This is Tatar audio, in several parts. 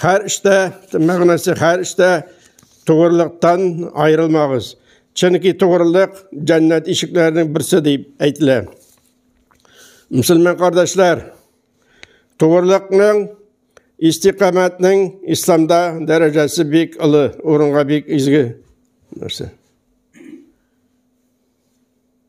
Хәр эштә, мәгънәсе хәр эштә тугрылыктан аерылмагыз. Чөнки тугрылык җәннәт ишекләренең берсе дип әйтелә. Мөселман кардәшләр, тугрылыкның истикамәтнең исламда дәрәҗәсе бик олы, урынга бик изге нәрсә.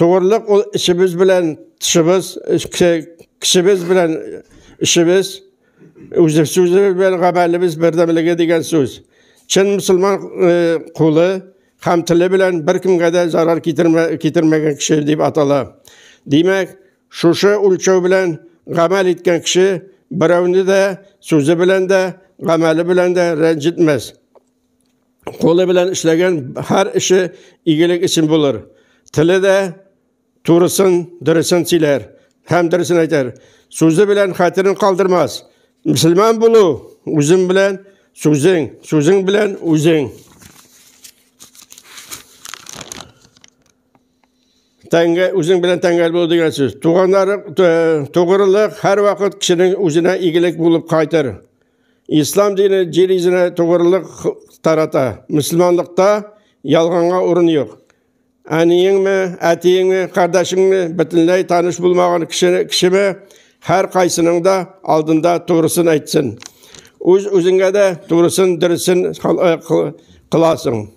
Тугрылык ул эчебез белән тышыбыз, кешебез белән эшебез, үзебез сүзебез белән гамәлебез бердәмлеге дигән сүз. Чын мусульман э, кулы һәм теле белән беркемгә дә зарар китермәгән кеше дип атала. Димәк, шушы үлчәү белән гамәл иткән кеше берәүне дә сүзе белән дә, гамәле белән дә рәнҗетмәс. Кулы белән эшләгән һәр эше игелек өчен булыр. Теле дә турысын, дөресен сөйләр һәм дөресен әйтер. Сүзе белән хәтерен калдырмас. Мөселман булу үзең белән сүзең, сүзең белән үзең. Тәңгә үзең белән тәңгәл булу дигән сүз. Туганнар тугрылык һәрвакыт кешенең үзенә игелек булып кайтыр. Ислам дине җир йөзенә тугрылык тарата. Мөселманлыкта ялганга урын юк. Әниеңме, әтиеңме, кардәшеңме, бөтенләй таныш булмаган кеше, кешеме, һәр кайсының да алдында тугрысын әйтсен. Үз үзеңә дә тугрысын, дөресен кыласың.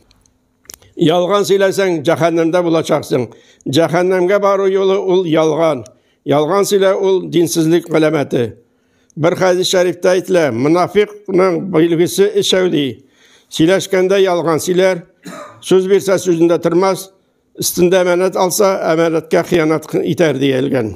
Ялган сөйләсәң, җәһәннәмдә булачаксың. Җәһәннәмгә бару юлы ул ялган. Ялган сөйлә ул динсезлек галәмәте. Бер хәдис шәрифтә әйтелә, мунафикның билгесе эчәү ди. Сөйләшкәндә ялган сөйләр, сүз бирсә сүзендә тормас, өстендә әманәт алса, әманәткә хыянат итәр диелгән.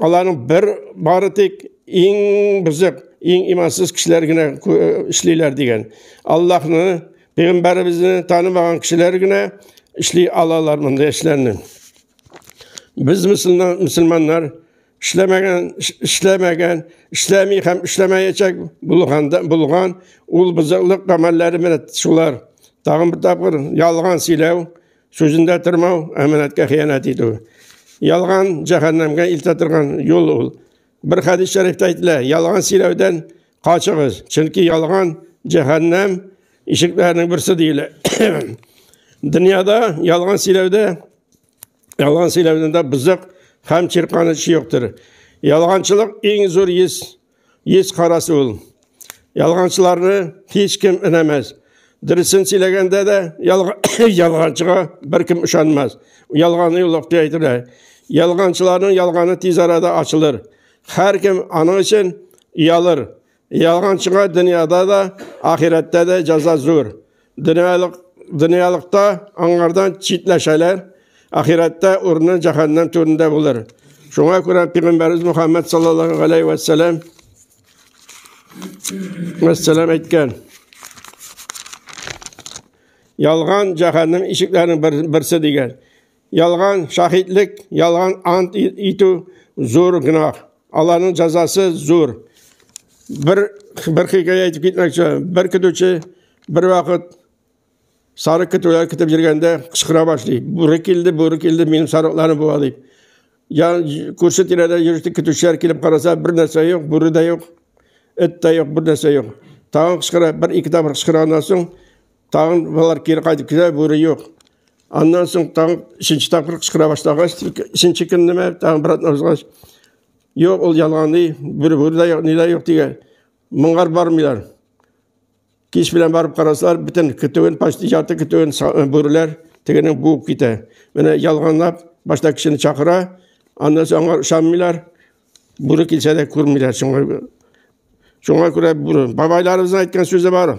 аларның бер бары тик иң бізек иң имансыз кешеләр генә эшлиләр дигән аллаһны пәйгамбәребезне танымаган кешеләр генә эшли алалар мондый эшләрне без мөселманнар эшләмәгән эшләмәгән эшләми һәм эшләмәячәк булганда булган ул бозыклык гамәлләре менә шулар тагын бер тапкыр ялган сөйләү Сүзендә тормау, әманәткә хыянәт итү. Ялган җәһәннәмгә илтә торган юл ул. Бер хәдис шәрифтә әйтелә, ялган сөйләүдән качыгыз, чөнки ялган җәһәннәм ишекләренең берсе диелә. Дөньяда ялган сөйләүдә ялган сөйләүдә бизәк һәм чирканыч юктыр. Ялганчылык иң зур ис Еш карасы ул. Ялганчыларны һич кем инәмәс. Дөресен сөйләгәндә дә ялганчыга беркем ышанмас. Ялганы юлык дип әйтелә. Ялганчыларның ялганы тиз арада ачылыр. Һәркем аның өчен ялыр. Ялганчыга дөньяда да, ахирәттә дә җәза зур. Дөньялык, дөньялыкта аңардан читләшәләр, ахирәттә урыны җәһәннәм түрендә булыр. Шуңа күрә Пәйгамбәрбез Мөхәммәд саллаллаһу алейхи ва саллям мәссәләм әйткән. Ялган җәһәннәм ишекләренең берсе дигән. Ялган шаһитлек, ялган ант итү зур гөнаһ. Аларның җәзасы зур. Бер бер хикәя әйтеп китмәкче. Бер көтүче бер вакыт сарык көтүләр көтеп йөргәндә кычкыра башлый. Бүре килде, бүре килде, минем сарыкларым була дип. Я күрше тирәдә йөрүче көтүчеләр килеп караса, бер нәрсә юк, бүре дә юк, эт тә юк, бер нәрсә юк. Тагын кычкыра, бер ике тапкыр кычкырганнан соң тагын болар кире кайтып китә бүре юк аннан соң тагын өченче тапкыр кычкыра башлагач өченче көнне ме тагын обратно узгач юк ул ялганы бүре бүре дә юк ни дә юк дигән моңар бармыйлар кич белән барып карасалар бөтен көтүен почти ярты көтүен бүреләр тегенең буып китә менә ялганлап башта кешене чакыра аннан соң аңар ышанмыйлар бүре килсә дә күрмиләр шуңа күрә бабайларыбызның әйткән сүзе бар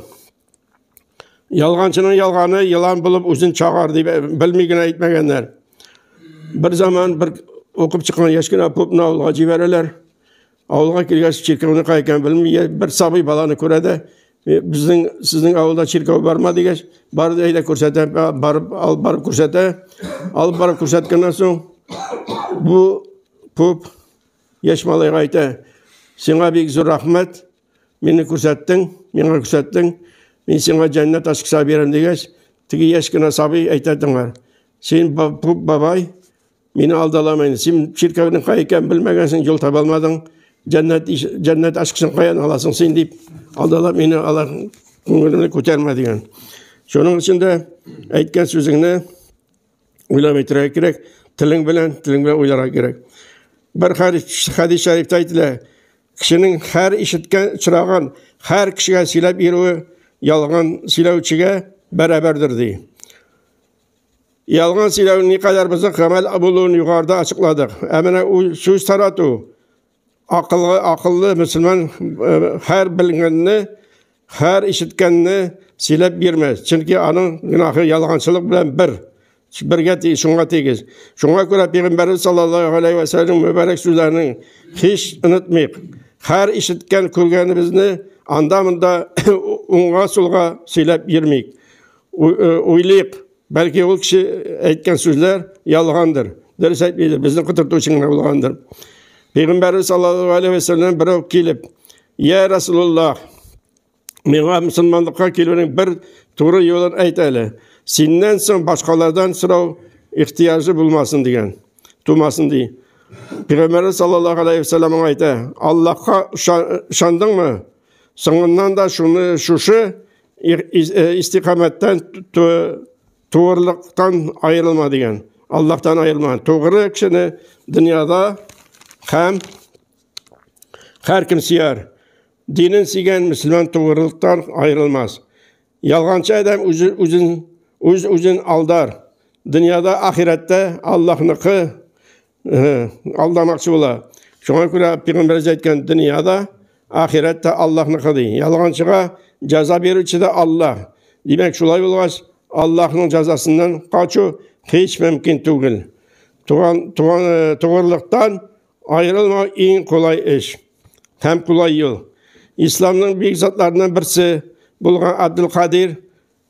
Ялганчының ялганы елан булып үзен чагар дип э, белми генә әйтмәгәннәр. Бер заман бер укып чыккан яшь кенә попны авылга җибәрәләр. Авылга килгәч чиркәүне кай икән белми, бер сабый баланы күрә дә, «Э, безнең сезнең авылда чиркәү барма дигәч, бар да әйдә күрсәтә, барып алып барып күрсәтә. Алып барып күрсәткәннән соң бу поп яшь малайга әйтә, Сиңа бик зур рәхмәт. Мине күрсәттең, миңа күрсәттең, мин сиңа җәннәт ачкыса бирәм дигәч, теге яшь кенә сабый әйтә тыңлар. Син бабай, мине алдалама инде. Син чиркәүнең кай икәнен белмәгәнсең, юл таба алмадың. Җәннәт җәннәт ачкысын каян аласың син дип алдалап мине алар күңелемне күтәрмә дигән. Шуның өчен дә әйткән сүзеңне уйлап әйтергә кирәк телең белән телең белән уйларга кирәк бер хәдис шәрифтә әйтелә кешенең һәр ишеткән очрагын һәр кешегә сөйләп йөрүе ялган сөйләүчегә бәрабәрдер ди ялган сөйләү никадәр бозык гамәл булуын югарыда ачыкладык ә менә сүз тарату Акыллы, акыллы мөселман һәр белгәнне, һәр ишеткәнне сөйләп бирмә, чөнки аның гөнаһы ялганчылык белән бер. Бергә ти, шуңа тигез. Шуңа күрә пәйгамбәрбез саллаллаһу алейһи ва сәлләм мөбарәк сүзләрен һич онытмыйк. Һәр ишеткән күргәнебезне анда-монда уңга-сулга сөйләп йөрмик. Уйлыйк, Бәлки ул кеше әйткән сүзләр ялгандыр. Дөрес әйтмидер, безне котырту өчен генә булгандыр. Пәйгамбәрбез саллаллаһу алейхи ва саллям берәү килеп, "Я Расулуллах, миңа мусламанлыкка килүнең бер туры юлын әйт әле. Синнән соң башкалардан сорау ихтияҗы булмасын" дигән. Тумасын ди. Пәйгамбәрбез саллаллаһу алейхи ва саллям аңа әйтә, "Аллаһка ышандыңмы? Соңыннан да шуны шушы истиқамәттән туырлыктан аерылма дигән аллаһтан аерылма тугры кешене дөньяда һәм һәркем сөяр динен сөйгән мөселман тугрылыктан аерылмас ялганчы адәм үзен үз үзен алдар дөньяда ахирәттә аллаһныкы алдамакчы була. Шуңа күрә пигамбәрҗә әйткән дөнья да, ахирәт тә Аллаһныкы ди. Ялганчыга җәза бирүче дә Аллаһ. Димәк, шулай булгач, Аллаһның җәзасыннан качу һич мөмкин түгел. Туган туган э, тугырлыктан аерылмау иң кулай эш һәм кулай юл. Исламның бик затларының берсе булган Абдулкадир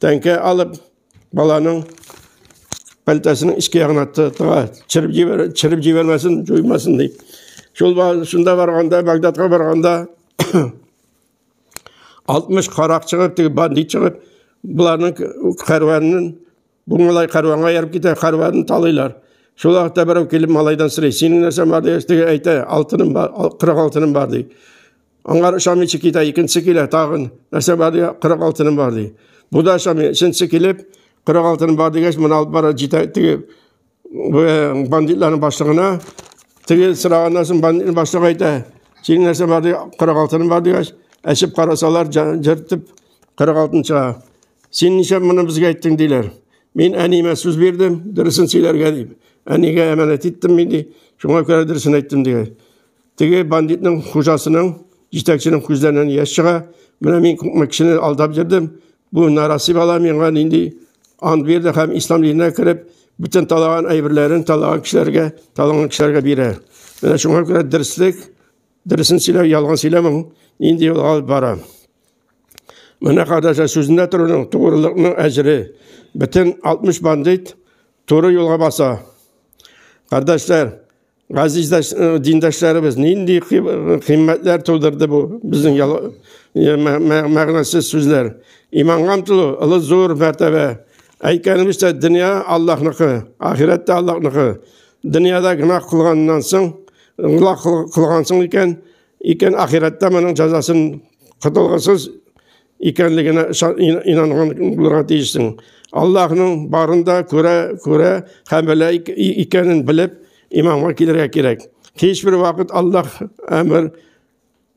тәңкә алып, баланың пәлтәсенең ішке ягына тыга, чырып җибәр, чырып җибәрмәсен, җуймасын дип. Шул шунда барганда, Багдадка барганда 60 карак чыгып, теге бандит чыгып, буларның кәрванын бу малай кәрванга ярып китә, кәрванын талыйлар. Шул вакытта берәү килеп малайдан сорый, синең нәрсә бар ди, теге әйтә, алтыным бар, 40 алтыным бар ди. Аңар ышамыйча китә, икенче килә, тагын нәрсә бар дия, 40 алтыным бар ди. Бу да ышамый, өченче килеп, 40 алтыным бар дигәч, моны алып бара җитә, теге э, бандитларның башлыгына, теге сораганнан соң бандитның башлыгы әйтә, синең нәрсә бар ди, 40 алтыным бар дигәч, әчеп карасалар, җыртып 40 алтын чыга. Син ничә моны безгә әйттең диләр. Мин әниемә сүз бирдем, дөресен сөйләргә дип. Әнигә әманәт иттем мин ди, шуңа күрә дөресен әйттем дигән. Теге бандитның хуҗасының, җитәкченең күзләреннән яшь чыга. Менә мин күпме кешене алдап йөрдем. Бу нараси бала миңа нинди ант бирде һәм ислам диненә кереп, бөтен талаган әйберләрен талаган кешеләргә, талаган кешеләргә бирә. Менә шуңа күрә дөрслек, дөресен сөйләү, ялган сөйләмәү нинди юлга алып бара. Менә кадәшә сүзендә торуның, тугрылыкның әҗре. Бөтен 60 бандит туры юлга баса. Кардәшләр, Газиздәш э, диндәшләребез нинди кыйммәтләр тудырды бу безнең э, мәгънәсез сүзләр. Иманга омтылу олы зур мәртәбә. Әйткәнебезчә, дөнья Аллаһныкы, ахирәт тә Аллаһныкы. Дөньяда гөнаһ кылганнан соң, гөнаһ кылгансың икән, икән ахирәттә моның җәзасын котылгысыз икәнлегенә инанган булырга тиешсең. Аллаһның барында күрә күрә һәм белә икәнен белеп имамга килергә кирәк. Һичбер вакыт Аллаһ әмер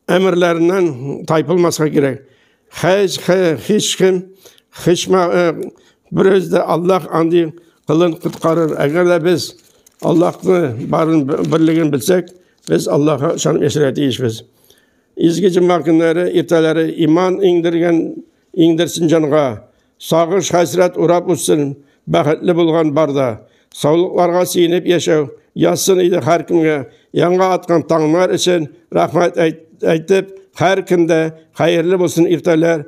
әмерләреннән тайпылмаска кирәк. Һәч һич кем хичма берүз дә Аллаһ андый кылын коткарыр. Әгәр дә без Аллаһны барын берлеген белсәк, без Аллаһка ышанып яшәргә тиешбез. Изге җомга көннәре иртәләре иман иңдергән иңдерсен җанга, сагыш хәсрәт урап үтсен, бәхетле булган барда. Саулыкларга сөенеп яшәү язсын иде һәр кемгә. Яңа аткан таңнар өчен рәхмәт әйтеп, һәр кемдә хәерле булсын иртәләр.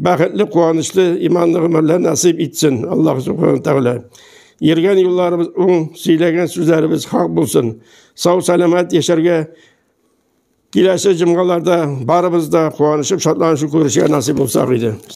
Бәхетле, куанычлы, иманлы гомерләр насыйп итсен Аллаһ субхана тәгалә. Йөргән юлларыбыз уң, сөйләгән сүзләребез хак булсын. Сау сәламәт яшәргә киләсе җомгаларда барыбыз да куанышып шатланышып күрешергә насыйп булсак иде.